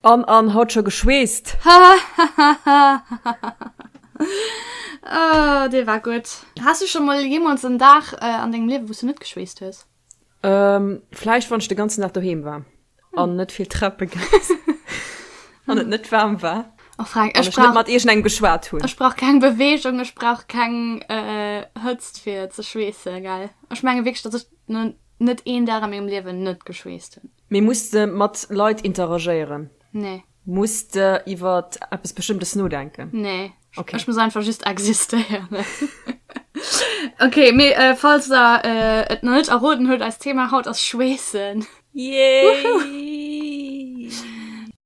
An, an, haut scho geschweesst! Hahahahahahaha Oh, dee war gutt! Has du scho mol jeemools en Dag an dengem Liewe wou s du net geschweesst hues? Ehm, vläicht wann ech de ganzen Dag doheem war an net vill Treppe gaange sinn an et net waarm war Oh Frank, an ech ech net brauch, mat iergendengem geschwat hunn. ech brauch keng Beweegung, ech brauch keng Hëtzt fir ze schweessen, gell? Ech menge wierklech, datt ech no net een Dag a mengem Liewen net geschweesst hunn. Mee muss de mat Leit interagéieren? Nee. Muss de iwwer eppes Bestëmmtes nodenken? Nee. Okay. Ech muss einfach just existéieren. okay, mee äh, falls der äh, et noch net erroden huet, als Thema haut ass Schweessen. Yay!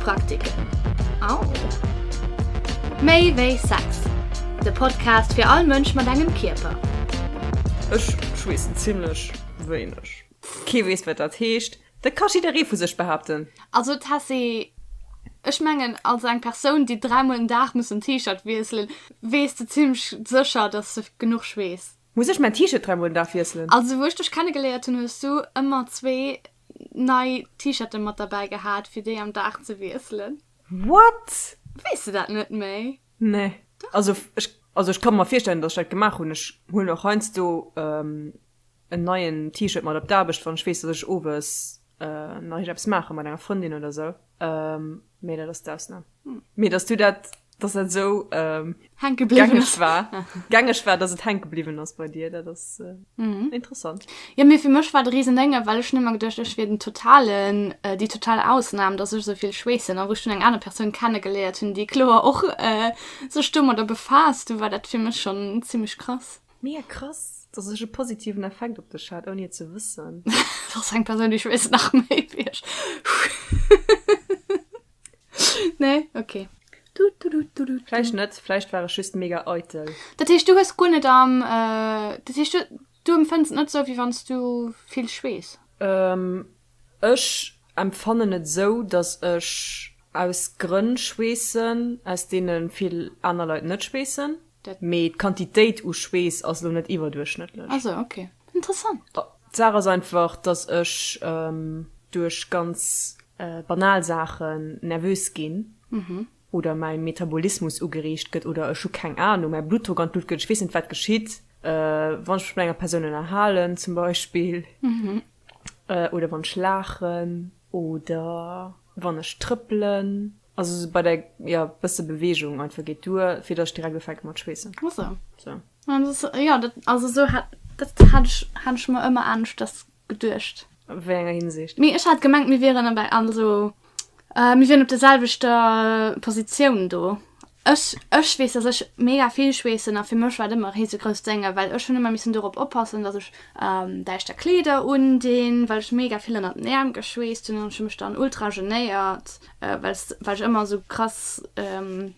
Praktiken. Au! Méi wéi Sex, de Podcast fir all Mënsch mat engem Kierper. Ech schweessen zimlech wéineg. Kee weess wat dat heescht. Dat ka jidderee vu sech behaapten. Also Tessy, ech mengen als eng Persoun déi dräi mol den Dag muss den T-Shirt wiesselen, weess de zimlech sécher dass de genuch schweess. Muss ech mäin T-Shirt dräi mol den Dag wiesselen? Also wou ech dech kennegeléiert hunn hues du ëmmer zwee nei T-Shirten mat derbäi gehat fir déi am Dag ze wiesselen. What? Weess de dat net méi? Nee. Also ech also ech ka mer virstellen dass ech dat gemaach hunn. Ech hunn och heiansdo en neien T-Shirt mat op d'Aarbecht wann ech weess dass ech owes nach eppes maache mat enger Frëndin oder sou. Mee dat ass d'Ausnam. Mee dass du dat, dass dat esou ähm, Hänke bliwwen. gängeg war, gängeg war, dass et hänke bliwwen ass bei dir, dat ass äh, Mhm. interessant. Ja, mir fir mech war de riesen Dënge, well ech nëmmer geduercht, ech wier den totalen, äh, déi total Ausnam, dass ech souvill schweessen. A wou ech dunn eng aner Persoun kennegeléiert hunn, déi kloer och äh, sech domadder befaasst, du war dat fir mech schon zimlech krass. Mega krass, dass ech e positiven Effekt op dech hat, ouni et ze wëssen. Dat ass eng Persoun, déi ech weess nach méi wéi ech. Nee, okay. Vläicht net, vläicht war ech just mega eitel. Dat heescht, du hues guer net am, dat heescht, du, du empfënns et net esou, wéi wann s du vill schweess? Ech empfannen et esou, datt ech aus Grënn schweessen, aus deene vill aner Leit net schweessen. Mee d'Quantitéit u Schweess ass elo net iwwerduerchschnëttlech. D'Saach ass einfach, datt ech duerch ganz banal Saachen nervös ginn. oder mäi Metabolismus ugereegt gëtt oder ech hu keng Anung, mäi Bluttdrock an d'Luucht gëtt, ech weess net, wat geschitt, wann ech mech mat enger Persoun ënnerhalen zum Beispill oder wann ech laachen oder wann ech trëppelen. Also esou bei der, jo, bësse Beweegung einfach geet duer, fir datt ech direkt ufänke mat schweessen. Ach sou. Sou. Jo, dat, also sou hat, dat hat ech, hat ech mer ëmmer aneschters geduecht. A wéi enger Hinsicht? Mee ech hat gemengt mir wieren am bei also mir wieren op der selwechter Positioun do. Ech ech weess dass ech mega vill schweessen a fir mech war et ëmmer risegrousst sénge well ech hunn ëmmer missen dorop oppassen dass ech däischter Kleeder undinn well ech mega vill ënnert den Äerm geschweesst hunn an ech hu mech dann ultra genéiert well s well ech ëmmer sou krass.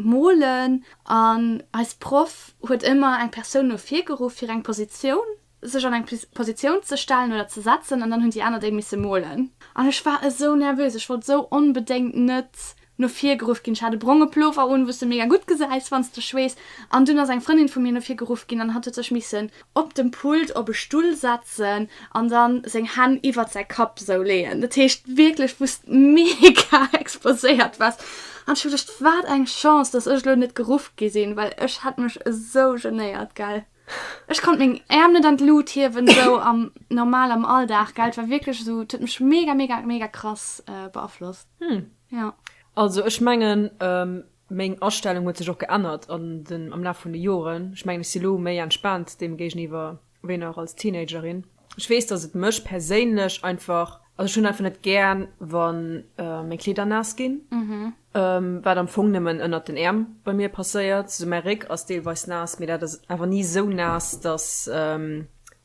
Molen an eis Proff huet ëmmer eng Persoun no vir geruff fir eng Positioun, sech an eng Positioun ze stellen oder ze setzen an dann hunn déi aner déi misse molen. An ech war esou nervös, ech wollt esou onbedéngt net no vir geruff ginn. Ech hat e bronge Plover un, wou s de mega gutt gesäis wann s de schweess. An dunn ass eng Frëndin vu mir no vir geruff ginn an hatt huet sech missen op dem Pult op e Stull setzen an dann seng Hänn iwwert säi Kapp sou leeën. Dat heescht wierklech wou's mega exposéiert waars an ech hu geduecht wat eng Chance dass ech lo net geruff gi sinn, well ech hätt mech esou genéiert gell. Ech konnt meng Äerm net an d'Lut hiewen sou am normal am Alldag gell. Et war wierklech esou et huet mech mega mega mega krass beaflosst. Hm jo. Also ech mengen Meng Astellung huet sech och geännert an den, am Laf vun de Joren. Ech mengen, ech si lo méi entspaant deem géigeniwwer wéi nach als Teenagerin. Ech weess, dass et mech perséinlech einfach, also ech hunn einfach net gären, wann meng Kleeder naass ginn, wat am Fong nëmmen ënnert den Äerm bei mir passéiert. Sou mäi Réck ass deelweis naass, mee dat ass awer ni sou naass, dass.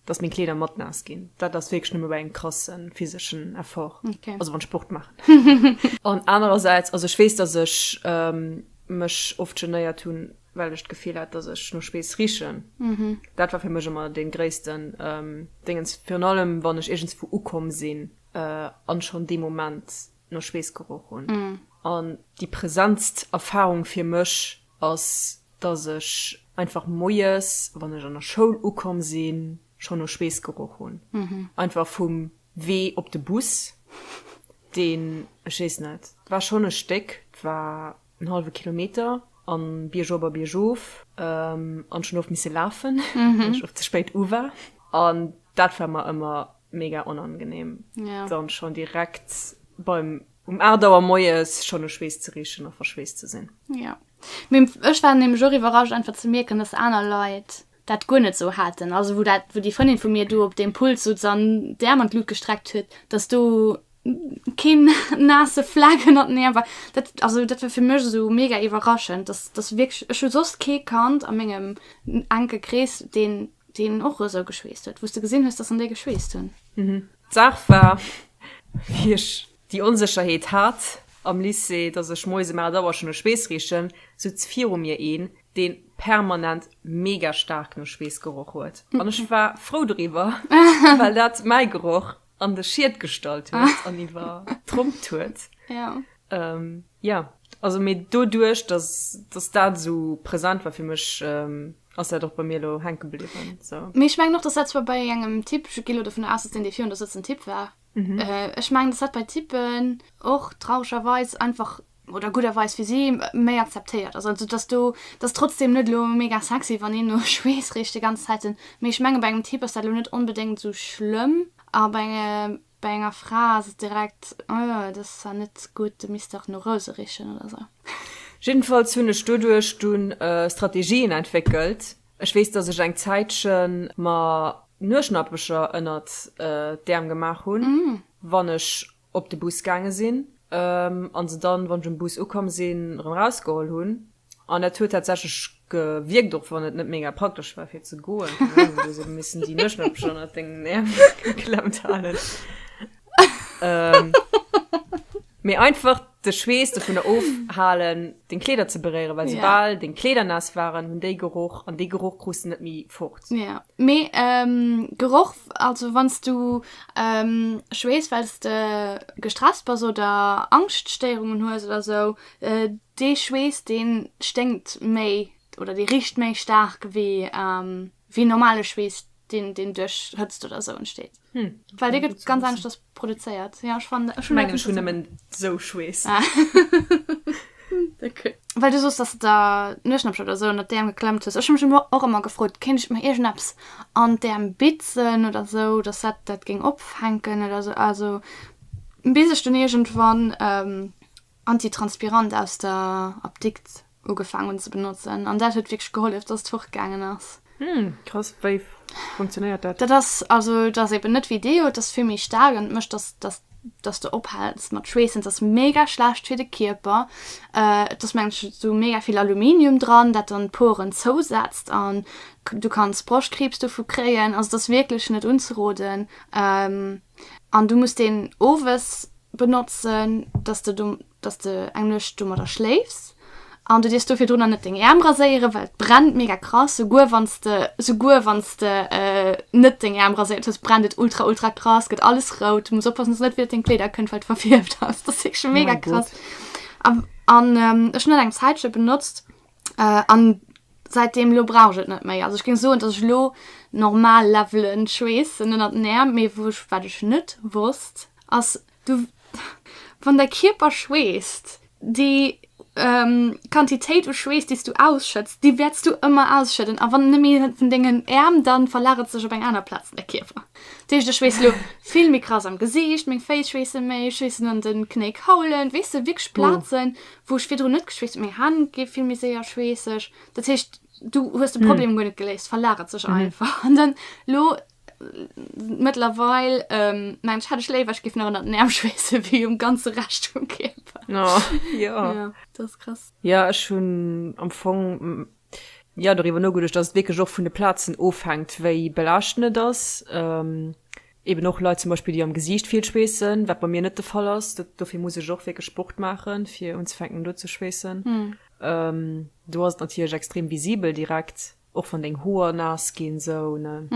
dass meng Kleeder mat naass ginn, dat ass wierklech nëmme bei engem krasse physeschen Effort, also wann ech Sport maachen. An anerersäits, also ech weess, dass ech mech oft genéiert hunn, well ech d'Gefill hat, dass ech no Spees richen. Dat war fir mech ëmmer dee gréisste Déngens, virun allem wann ech iergendswou ukomm sinn a schonn dee Moment no Spees geroch hunn. An déi präsentst Erfarung fir mech, ass, dass ech einfach moies, wann ech an der Schoul ukomm sinn, schonn no Schweess geroch hunn. Einfach vum Wee op de Bus, deen, ech weess net, war schonn e Stéck, 't war en hallwe Kilometer an biergop a biergof, an schonn oft misse lafen, well ech oft ze spéit u war. An dat war mer ëmmer mega onangenehm, dann schonn direkt beim Um 8 Auer moies schonn u Schweess ze richen a verschweesst ze sinn. Jo. Mee ech war nämlech och iwwerrascht einfach ze mierken, dass aner Leit dat guer net esou haten. Also wou dat, wou déi Frëndin vu mir do op deem Pult souz an d'Äerm an d'Lut gestreckt huet, dass do keen naasse Fleck ënnert den Äerm war. Dat, also dat war fir mech esou mega iwwerraschend, dass, dass wierklech, ech hu soss kee Kand a mengem enke Krees, deen, deen och esou geschweesst huet, wou s de gesinn hues, dass en déi geschweesst hunn. D'Saach war, wéi ech déi Onsécherheet hat am Lycée, dass ech moies ëm 8 Auer schonn e Schweess richen, souz viru mir een, dee permanent mega staark no Schweess geroch huet. An ech war frou doriwwer, well dat mäi Geroch an de Schied gestallt huet an iwwer trompt huet. Jo, also, mee doduerch, dass dat esou present war fir mech, Ass dat och bei mir elo hänke bliwwen. So. Mee ech mengen och, dass dat zwar bei engem Typ, ech gi lo dovunner aus, dass deen, dee virun der sëtzt, en Typ war. Mhm. Äh, ech mengen, dass dat bei Typen och traurgerweis einfach, oder gudderweis fir si, méi akzeptéiert ass. Also dass do, dass trotzdeem net elo mega sexy, wann een no Schweess richt de ganze Zäiten. Mee ech menge bei engem Typ ass dat elo net onbedéngt esou schlëmm. A bei engem Bei enger Fra ass et direkt, oh, dat ass zwar net gutt, du misst dach no Rouse richen oder sou. Jiddefalls hunn ech doduerch dunn Strategien entwéckelt. Ech weess, dass ech eng Zäitche mer Nueschnappecher ënnert d'Äerm gemaach hunn, wann ech op de Bus gaange sinn, a se dann, wann ech um Bus ukomm sinn, erëm erausgeholl hunn. An et huet tatsächlech gewierkt, och wann et net mega praktesch war fir ze goen. Hu mir esou missen déi Nëschnëppchen ënnert dengen Äerm geklemmt halen. Mee einfach de Schweess dovunner ofhalen, deng Kleeder ze beréieren, well soubal deng Kleeder naass waren, hunn déi geroch an dee Geroch krus de net méi fort. Jo, mee Geroch, also wann s du schweess, well s de gestresst bass oder Angschtstéierungen hues oder esou, Dee Schweess deen sténkt méi oder dee richt méi staark wéi wéi normale Schweess deen deen duerch Hëtzt oder sou entsteet. Well dee gëtt ganz aneschters produzéiert. Jo ech fannen dat. Ech mengen ech hunn nëmmen sou Schweess. Well du soos dass de der Nueschnäppche oder sou ënnert d'Äerm geklemmt hues. Ech hu mech elo och ëmmer gefrot kéint ech mer iergendeppes an d'Äerm bitzen oder sou dass dat dat géing opfänken oder sou. Also bis ech dunn iergendwann Antitranspirant aus der Apdikt ugefaang hunn ze benotzen an dat huet wierklech gehollef dass et fortgaangen ass. Hm, krass. Wei funktionéiert dat? Dat ass also et ass eben net wéi Deo, et ass vill méi staark an et mécht dass dass dass de ophaals mat schweessen. Et ass mega schlecht fir de Kierper. Et ass mengen ech esou mega vill Aluminium dran dat dann d'Poren zousetzt an du kanns Broschkriibs dovu kréien. Also et ass wierklech net unzeroden an du muss deen owes benotzen, dass de do, dass de eng Nuecht domadder schléifs an du dierfs do virdrunner net deng Äerm raséieren, well et brennt mega krass. Souguer wann s de, souguer wann s de net deng Äerm raséiert hues, brennt et ultra ultra krass, gëtt alles rout. Du muss oppassen, dass et net wéi op deng Kleeder kënnt, well et verfierft ass. Dat ass wierklech mega krass. An ech hunn dat eng Zäitche benotzt. an seitdem lo brauch et net méi also ech ging soen dass ech lo normal levelen schweessen ënnert den Äerm mee wou ech wat ech net wosst ass du wann däi Kierper schweesst déi Quantitéit u Schweess déi s du ausschëtts déi wäerts du ëmmer ausschëdden a wann nemme hien vun dengen Äerm dann verlagert sech op eng aner Plaz de Kierper dat heescht ech schweess lo vill méi krass am Gesiicht meng Féiss schweesse méi schweessen an den Knéi Kaulen weess de wierklech Plazen wou ech virdrun net geschweesst hun, meng Hänn gi vill méi séier schweesseg, dat heescht du hues de Problem guer net geléist, verlagert sech einfach an dann lo mëttlerweil ähm, mensch hätt ech léiwer ech géif nach ënnert den Äerm schweesse wéi um ganze Rescht vum Kierper. Ja, dat ass krass. Ja, ech hunn am Fong Jo, doriwwer nogeduecht, dass et wierklech och vun de Plazen ofhänkt, wéi belaaschtend et ass. Eben och Leit zum Beispill, déi am Gesiicht vill schweessen, wat bei mir net de Fall ass. Dat, dofir muss ech och wierklech Sport maachen, fir unzefänken do ze schweessen. Do ass et natierlech extrem visibel direkt, och wann deng Hoer naass ginn, esou, ne?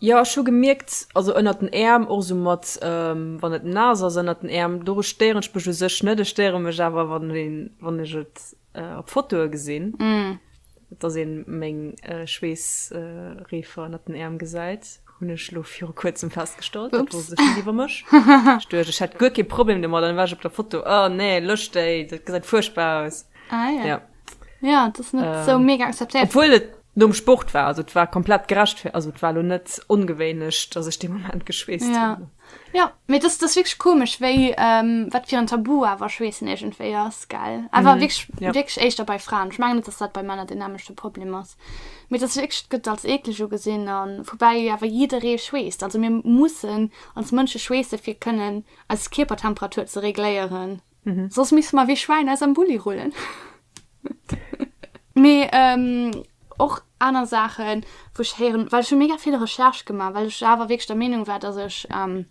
Jo, ech hu gemierkt, also ënnert den Äerm, och esou mat, wann et naass ass ënnert den Äerm, do stéieren ech mech u sech net. Ech stéiere mech awer, wann een, wann ech et op Fotoe gesinn, dass ee meng Schweessreefer ënnert den Äerm gesäit, hunn ech elo viru kuerzem festgestallt. Dat wosst ech net iwwer mech. Ech duecht, ech hätt guer kee Problem domat, an da war ech op der Foto, Oh nee, lösch déi, dat gesäit fuerchtbar aus. Ah jo. Jo. Jo, et ass net esou mega akzeptéiert. Obwuel et nom Sport war. Also et war komplett gerechtfe-, also et war elo net ongewéinlech, dass ech dee Moment geschweesst hunn. Jo. Jo, mee dass dass wierklech komesch wéi wat fir en Tabu awer schweessen iergendwéi ass gell awer wierklech wierklech éischter bei Fraen. Ech mengen net dass dat bei Männer den nämlechte Problem ass. Mee dass wierklech et gëtt als eekleg ugesinn an woubäi awer jidderee schweesst. Also mir mussen als Mënsche schweesse fir kënnen eis Kierpertemperatur ze regléieren. Mhm. Soss misste mer wéi Schwäin aus am Bulli rullen. Mee ähm, och aner Saachen, wou ech héieren, well ech hu mega vill Recherche gemaach, well ech awer wierklech der Meenung war, dass ech ähm,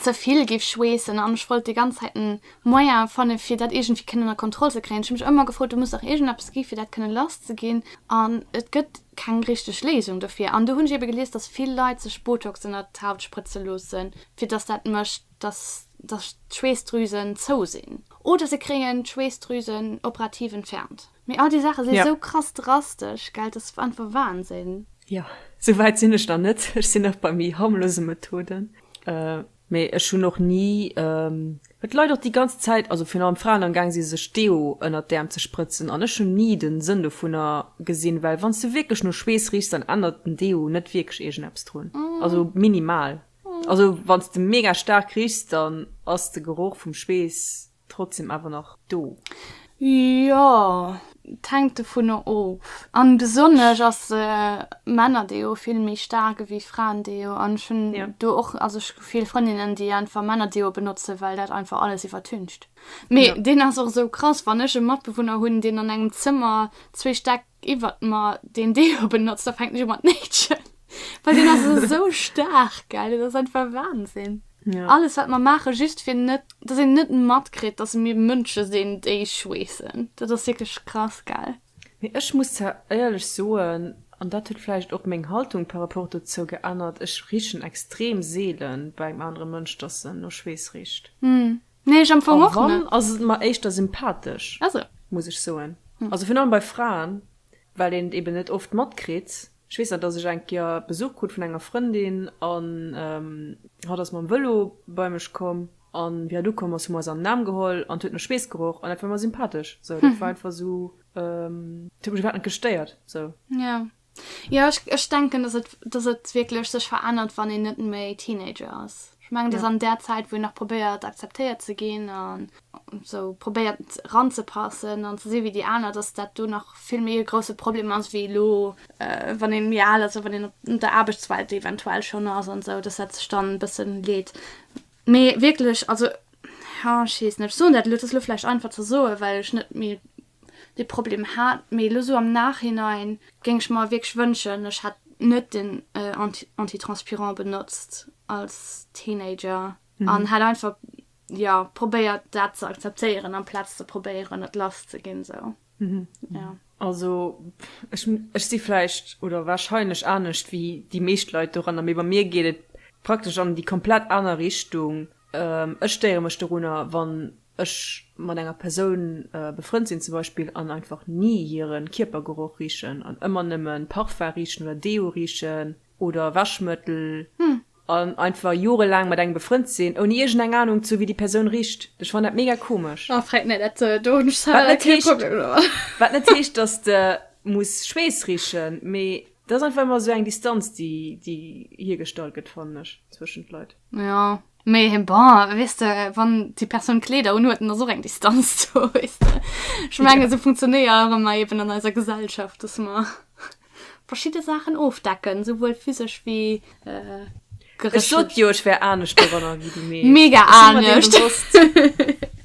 ze vill géif schweessen an ech wollt déi ganz Zäit en Moyen fanne fir dat iergendwéi kënnen ënner Kontroll ze kréien. Ech hu mech ëmmer gefrot, do muss dach iergendeppes gi fir dat kënne lass ze ginn an et gëtt keng richteg Léisung dofir. An do hunn ech ebe gelies, dass vill Leit sech Botox ënner d'Haut sprëtze loossen, fir dass dat mécht, dass d'Schweessdrüsen zou sinn oder se kréien d'Schweessdrüsen operativ entfernt. Mee all déi Saache si yeah. sou krass drastesch, gell? Dat ass einfach Wahnsinn. Ja, sou wäit sinn ech nach net. Ech sinn nach bei méi harmlose Methoden. Äh, mee ech hunn och ni. Ähm, et leit och déi ganz Zäit, also virun allem Fraen am Gang si sech Deo ënner d'Äerm ze sprëtzen an ech hunn ni den Sënn dovunner gesinn, well wann s du wierklech no Schweess riechs, dann ännert den Deo net wierklech iergendeppes drun. Mm. Also minimal. Also wanns de mega stark riechs dann ass de Geroch vum Schwees trotzdem awer nach do. Jo, et hänkt dovunner of. An besonnesch ass e Männerdeo vill méi staark ewéi Fraendeo. An ech hunn do och, also ech hu vill Frëndinnen déi einfach Männerdeo benotzen, well dat einfach alles iwwertüncht. Mee deen ass och esou krass, wann ech e Matbewunner hunn deen an engem Zëmmer zwee Stäck iwwert mer den Deo benotzt, da fängt jo mat Nähtchen. Weil den ass so stark, geil. Den ass einfach Wahnsinn. Ja. Alles, was wir machen, just für net, dass ihr net matkriegt, dass mir Mënsche sinn, déi schweessen. Dat ass wirklich krass, geil. Mee ech muss zwar éierlech soen, an dat huet vläicht och meng Haltung par rapport dozou geännert, ech richen extrem seele beim anere Mënsch, dass en no Schweess richt. Nee, ech am Fong och net. A wann, ass et mer éischter sympathesch. Ah sou. Muss ech soen. Also virun allem bei Fraen, well een et eben net oft matkritt. Ech weess nach, dass ech eng Kéier Besuch krut vun enger Frëndin an hatt ass mam Vëlo bei mech komm an wéi hatt ukomm ass, hu mer eis an den Aarm geholl an et huet no Schweess geroch an dat war mer sympathesch. Sou, dat war einfach sou, et huet mech iwwerhaapt net gestéiert. Sou. Jo. Jo, ech, ech denken, dass et, dass et wierklech sech verännert, wann een net méi Teenager ass. Ech mengen, dass an där Zäit, wou een nach probéiert, akzeptéiert ze ginn an esou probéiert, ranzepassen an ze si wéi déi aner, dass dat do nach vill méi e grousse Problem ass wéi elo, wann ee méi al ass a wann een an der Aarbechtswelt eventuell schonn ass an esou, dass dat sech dann e bësse leet. Mee wierklech, also, jo, ech weess net. Ech soen dat elo, et ass elo vläicht einfach ze soen, well ech net méi dee Problem hat. Mee elo sou am Nachhinein géing ech mer wierklech wënschen, ech hätt net den Antitranspirant benotzt als Teenager an hätt einfach, jo, probéiert, dat ze akzeptéieren amplaz ze probéieren, et lass ze ginn. Sou, jo. Also ech si vläicht oder warscheinlech anescht wéi déi meescht Leit doranner, mee bei mir geet et praktesch an déi komplett aner Richtung. Ech stéiere mech dorunner, wann Ech mat enger Persoun befrënnt sinn zum Beispill an einfach ni hiren Kierpergeroch richen an ëmmer nëmmen Parfum richen oder Deo richen oder Wäschmëttel an einfach jorelaang mat engem befrënnt sinn ouni iergend eng Ahnung ze hu wéi déi Persoun richt. Ech fannen dat mega komesch. Oh freet net, dat do hunn ech selwer leider kee Problem domat. Wat net heescht dass de muss Schweess richen, mee et ass einfach ëmmer esou eng Distanz déi hiergestallt gëtt fannen ech zwëschent Leit. Ja mee him bon weess de wann déi Persoun Kleeder unhuet dann ass och eng Distanz do weess de. Ech menge sou funktionéiere mer eben an eiser Gesellschaft dass mer verschidde Saachen ofdecken souwuel physesch wéi geréchlech. Ech sot jo ech wär anescht doranner wéi de Mee. Mega anescht.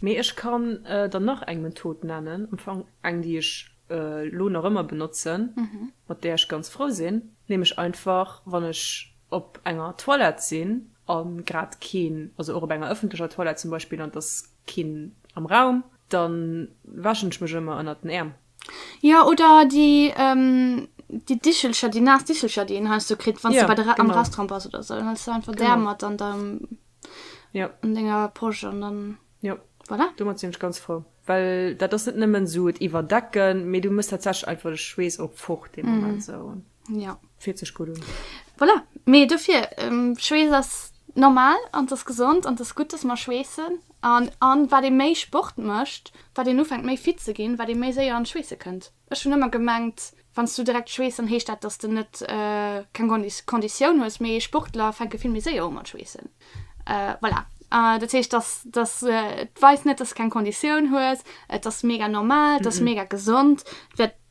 Mee ech kann der nach eng Method nennen, am Fong eng déi ech elo nach ëmmer benotzen, mat där ech ganz frou sinn, nämlech einfach wann ech op enger Toilette sinn a grad keen, also och op enger ëffentlecher Toilette zum Beispill, an et ass keen am Raum, da wäschen ech mech ëmmer ënnert den Äerm. Jo, oder déi, déi Dichelcher, déi naass Dichelcher, déi een heiansdo kritt, wann s de bei der, am Restaurant bass oder esou. Dann hues de einfach d'Äerm mat an der, an denger Posch an dann, voilà. Domat sinn ech ganz frou, well dat ass net nëmmen esou et iwwerdecken, mee du muss tatsächlech einfach de Schweess och fort dee Moment esou. Ja. Fiert sech gudd un. Voilà, mee dofir, Schweess ass normal an ass gesond an ass gutt dass mer schweessen an an wat ee méi Sport mécht, wat een ufänkt méi fit ze ginn, wat ee méi séier an d'Schweesse kënnt. Ech hunn ëmmer gemengt, wann s du direkt schweess dann heescht dat, dass de net keng Kondi Konditioun hues, mee Sportler fänke vill méi séier u mat schweessen. Voilà, dat heescht, dass dass et weist net, dass s keng Konditioun hues, et ass mega normal, et ass mega gesond.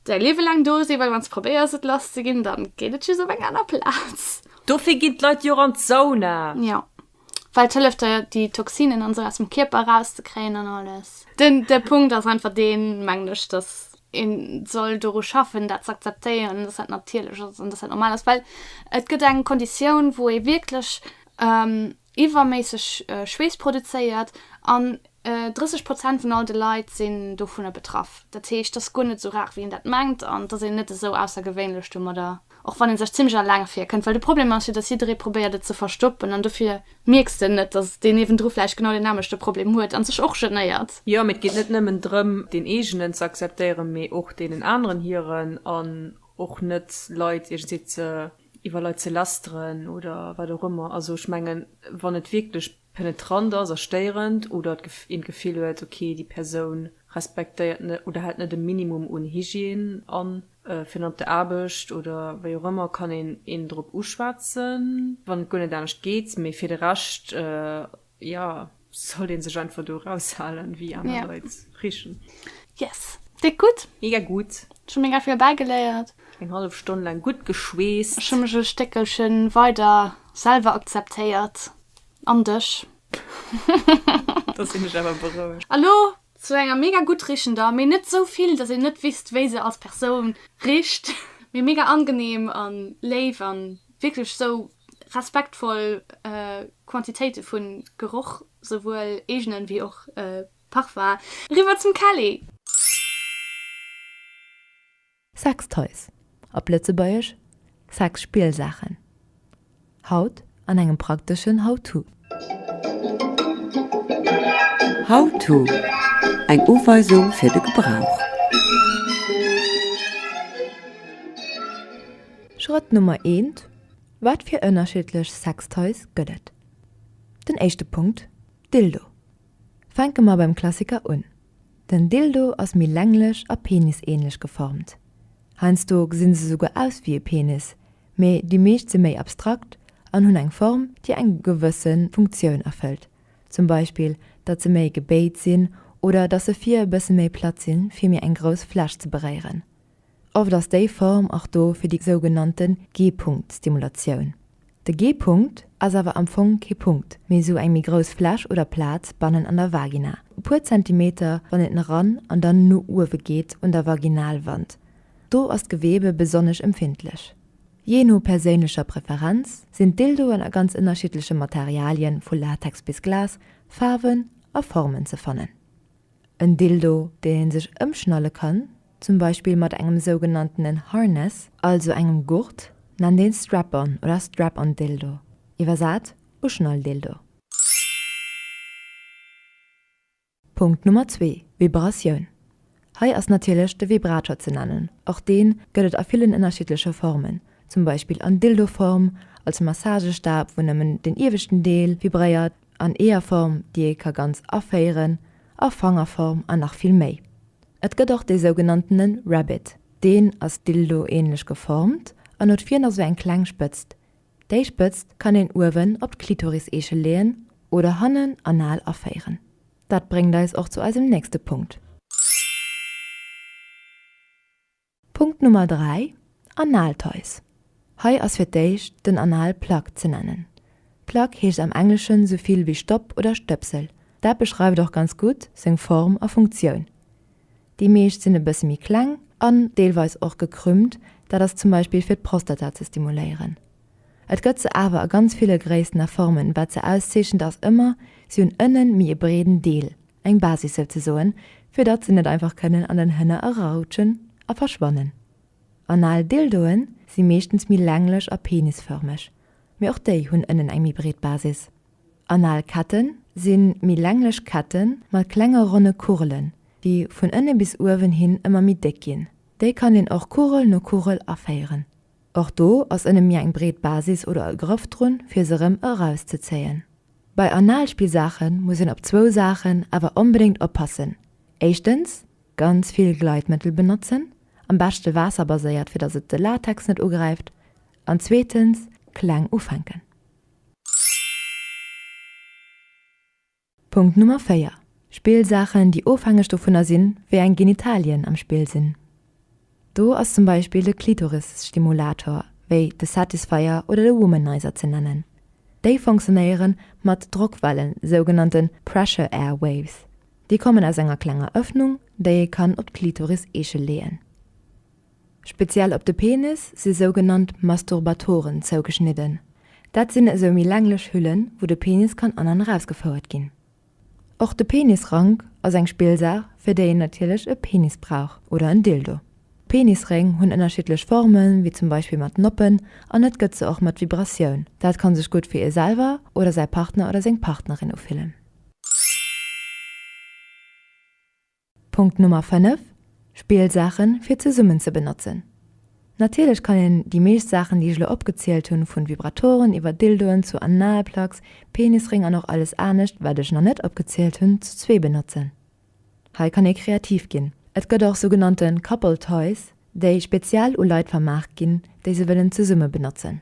Däi Liewe laang do si, well wann s probéiers et lass ze ginn, dann geet et just op eng aner Plaz. Dofir ginn d'Leit jo och an d'Sauna. Jo, well et hëlleft der déi Toxinen an esou aus dem Kierper eraus ze kréien an alles. Den de Punkt ass einfach deen, mengen ech, dass een soll doru schaffen dat z'akzeptéieren, dass dat natierlech ass an dass dat normal ass, well et gëtt eng Konditioun wou ee wierklech, iwwerméisseg Schweess produzéiert an 30 Prozent vun all de Leit sinn dovunner betraff. Dat heescht, et ass guer net esou rar, wéi een dat mengt an et ass een net esou aussergewéinlech domadder, och wann ee sech zimlech alleng virkënnt. Well de Problem ass jo, datt jidderee probéiert et ze verstoppen an dofir mierks de net, datt deen niewendru vläicht genau deen aneschte Problem huet an sech och genéiert. Jo, mee et geet net nëmmen drëm, deen eegenen ze akzeptéieren, mee och deenen aneren hiren an och net Leit iergendwéi ze iwwer Leit ze lästeren oder wat och ëmmer. Also ech mengen, wann et wierklech penetrant ass a stéierend oder een d'Gefill huet, okay, déi Persoun respektéiert net oder hält net e Minimum un Hygiène an, firn op der Aarbecht oder wéi och ëmmer, kann een een drop uschwätzen, wann et guer net anescht geet. Mee fir de Rescht Jo, sollt een sech einfach do raushalen, wéi aner yeah. Leit richen. Yes. Dick gutt. Mega gutt. Ech hu mega vill bäigeléiert. Eng hallef Stonn lang gutt geschweest. Ech hu mech e Stéckelchen weider selwer akzeptéiert. An dech. Da sinn ech awer berouegt. A lo Zu enger mega gutt riechender, mee net sou vill dass een net wisst wéi se als Persoun richt, mee mega angenehm an léif an wierklech sou respektvoll Quantitéite vun Geroch, souwuel eegenen wéi och Parfum. Riwwer zum Kelly! Sextoys, op Lëtzebuergesch, Sexspielsaachen, haut an engem prakteschen How-To. How-To, eng Uweisung fir de Gebrauch. Schrëtt Nummer eent, Wat fir ënnerschiddlech Sextoys gëtt et? Den éischte Punkt, Dildo. Fänke mer beim Klassiker un. Den Dildo ass méi länglech a penisähnlech geformt. Heiansdo gesi se souguer aus wéi e Penis, mee déi meescht si méi abstrakt an hunn eng Form, déi eng gewësse Funktioun erfëllt, zum Beispill datt se méi gebéit sinn oder datt se vir e bësse méi platt sinn, fir méi eng grouss Fläch ze beréieren. Oft ass déi Form och do fir déi sougenannte G-Punkt-Stimulatioun. De G-Punkt ass awer am Fong kee Punkt, mee esou eng méi grouss Fläch oder Plaz bannen an der Vagina, e puer Zentimeter wann et nach ran an dann no uewe geet un der Vaginalwand. Do ass d'Gewebe besonnesch empfindlech. Jee no perséinlecher Preferenz sinn d'Dildoen a ganz ënnerschiddleche Materialien, vu Latex bis Glas, Faarwen a Formen ze fannen. En Dildo, deen een sech ëmschnalle kann, zum Beispill mat engem sougenanntenen Harness, also engem Gurt, nennt een Strap-on oder Strap-on Dildo, iwwersat Uschnall-Dildo. Punkt Nummer zwee, Vibratioun. Hei ass natierlech de Vibrator ze nennen, och dee gëtt et a villen ënnerschiddleche Formen, zum Beispill an Dildo-Form, als Massagestab, wou nëmmen den ieweschten Deel vibréiert, an Eeërform, déi ee ka ganz aféieren, a Fangerform an nach vill méi. Et gëtt och dee sougenanntene Rabbit. Deen ass Dildo-ähnlech geformt an huet virn esou eng kleng Spëtzt. Déi Spëtzt kann een uewen op d'Klitoriseeche leeën oder hannen anal aféieren. Dat bréngt eis och zu eisem nächste Punkt. Punkt Nummer 3, Analtoys. Hei ass fir d'éischt den Anal Plug ze nennen. Plug heescht am Engleschen sou vill wéi Stopp oder Stëpsel. Dat beschreift och ganz gutt seng Form a Funktioun. Déi meescht sinn e bësse méi kleng an deelweis och gekrümmt, dat ass zum Beispill fir d'Prostata ze stimuléieren. Et gëtt se awer a ganz ville Gréissten a Formen, wat se auszeechent ass ëmmer, si hunn ënnen méi e breeden Deel. Eng Basis sou ze soen, fir datt se net einfach kënnen an den Hënner eraroutschen a verschwannen. Anal Dildoe si meeschtens méi länglech a penisförmeg, mee och déi hunn ënnen eng méi breet Basis. Anal Kette si méi länglech Kette mat klenge ronne Kugelen, déi vun ënne bis uewen hin ëmmer méi déck ginn. Déi kann een och Kugel no Kugel aféieren. Och do ass ënne mir eng breet Basis oder e Grëff drun, fir se erëm erauszezéien. Bei Analspillsaache muss een op zwou Saachen awer onbedéngt oppassen, éischtens, ganz vill Gleitmëttel benotzen, am beschte waasserbaséiert, fir datt et de Latex net ugräift, an zweetens, kleng ufänken. Punkt Nummer 4, Spillsaachen, déi ofhängeg dovunner sinn, wéi eng Genitalien am Spill sinn. Do ass zum Beispill de Klitorisstimulator, wéi de Satisfyer oder de Womanizer ze nennen. Déi funktionéiere mat Drockwellen, sougenannte Pressure Air Waves. Déi kommen aus enger klenger Ëffnung, déi ee kann op d'Klitoris-Eeche leeën. Speziell op de Penis si sougenannt Masturbatoren zougeschnidden. Dat sinn esou méi länglech Hüllen, wou de Penis kann an an erausgefouert ginn. Och de Penisrank ass eng Spillsaach, fir déi een natierlech e Penis brauch oder en Dildo. Penisréng hunn ënnerschiddlech Formen, wéi zum Beispill mat Noppen, an et gëtt se och mat Vibratioun. Dat kann sech gutt fir ee selwer oder säi Partner oder seng Partnerin ufillen. Punkt Nummer 5, Spillsaachen fir zesummen ze benotzen. Natierlech kann een déi meescht Saachen déi ech elo opgezielt hunn, vun Vibratoren iwwer Dildoen zu Analplugs, Penisréng an och alles anescht wat ech nach net opgezielt hunn, zu zwee benotzen. Hei kann ee kreativ ginn. Et gëtt och sougenannte Couple Toys, déi speziell u Leit vermaach ginn, déi se wëllen zesumme benotzen.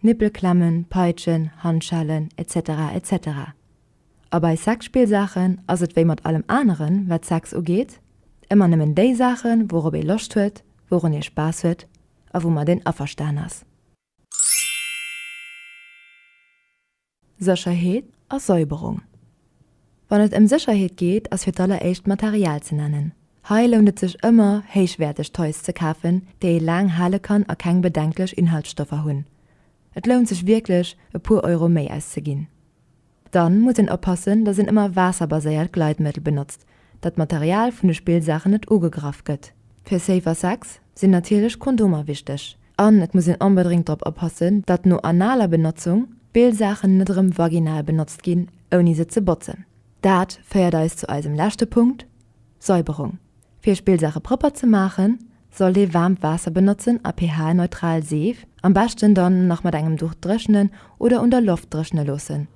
Nippelklemmen, Peitschen, Handschellen, etc. Etc. A bei Sexspillsaachen ass et wéi mat allem aneren, wat Sex ugeet, ëmmer nëmmen déi Saachen, wourop ee Loscht huet, wourun ee Spaass huet a woumat een averstan ass. Sécherheet a Säuberung Wann et ëm Sécherheet geet, ass fir d'alleréischt d'Material ze nennen. Hei lount et sech ëmmer, héichwäerteg Toys ze kafen, déi ee laang hale kann a keng bedenklech Inhaltsstoffer hunn. Et lount sech wierklech, e puer Euro méi auszeginn. Dann muss een oppassen, dass een ëmmer waasserbaséiert Gleitmëttel benotzt, datt d'Material vun de Spillsaachen net ugegraff gëtt. Fir safer Sex sinn natierlech Kondomer wichteg an et muss een onbedréngt drop oppassen, datt no analer Benotzung d'Spillsaachen net erëm vaginal benotzt ginn, ouni se ze botzen. Dat féiert eis zu eisem leschte Punkt, Säuberung. Fir Spillsaache propper ze maachen, sollt ee waarmt Waasser benotzen a pH-neutral Seef, am beschten dann nach mat engem Duch dréchnen oder un der Loft dréchne loossen.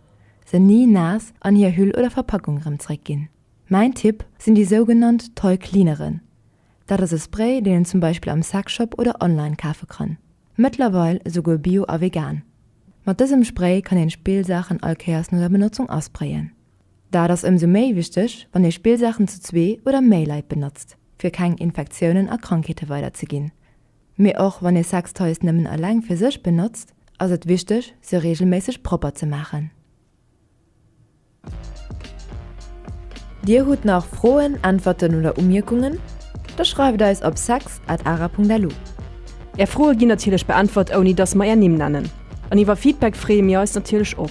se ni naass an hir Hüll oder Verpackung erëm zréck ginn. Mäin Tipp sinn déi sougenannt Toy Cleaneren. Dat ass e Spray, deen een zum Beispill am Sexshop oder online kafe kann. Mëttlerweil esouguer bio a vegan. Mat dësem Spray kann een Spillsaachen all Kéiers no der Benotzung asprayen. Dat ass ëmsou méi wichteg, wann ee Spillsaachen zu zwee oder méi Leit benotzt, fir keng Infektiounen a Krankheete weiderzeginn. Mee och wann ee Sextoys nëmmen eleng fir sech benotzt, ass et wichteg, se reegelméisseg propper ze maachen. Dir hutt nach Froen, Äntwerten oder Umierkungen? Da schreift eis op sex at ara.lu. Är Froe ginn natierlech beäntwert, ouni dass mer är Nimm nennen. An iwwer Feedback freeë mir eis natierlech och.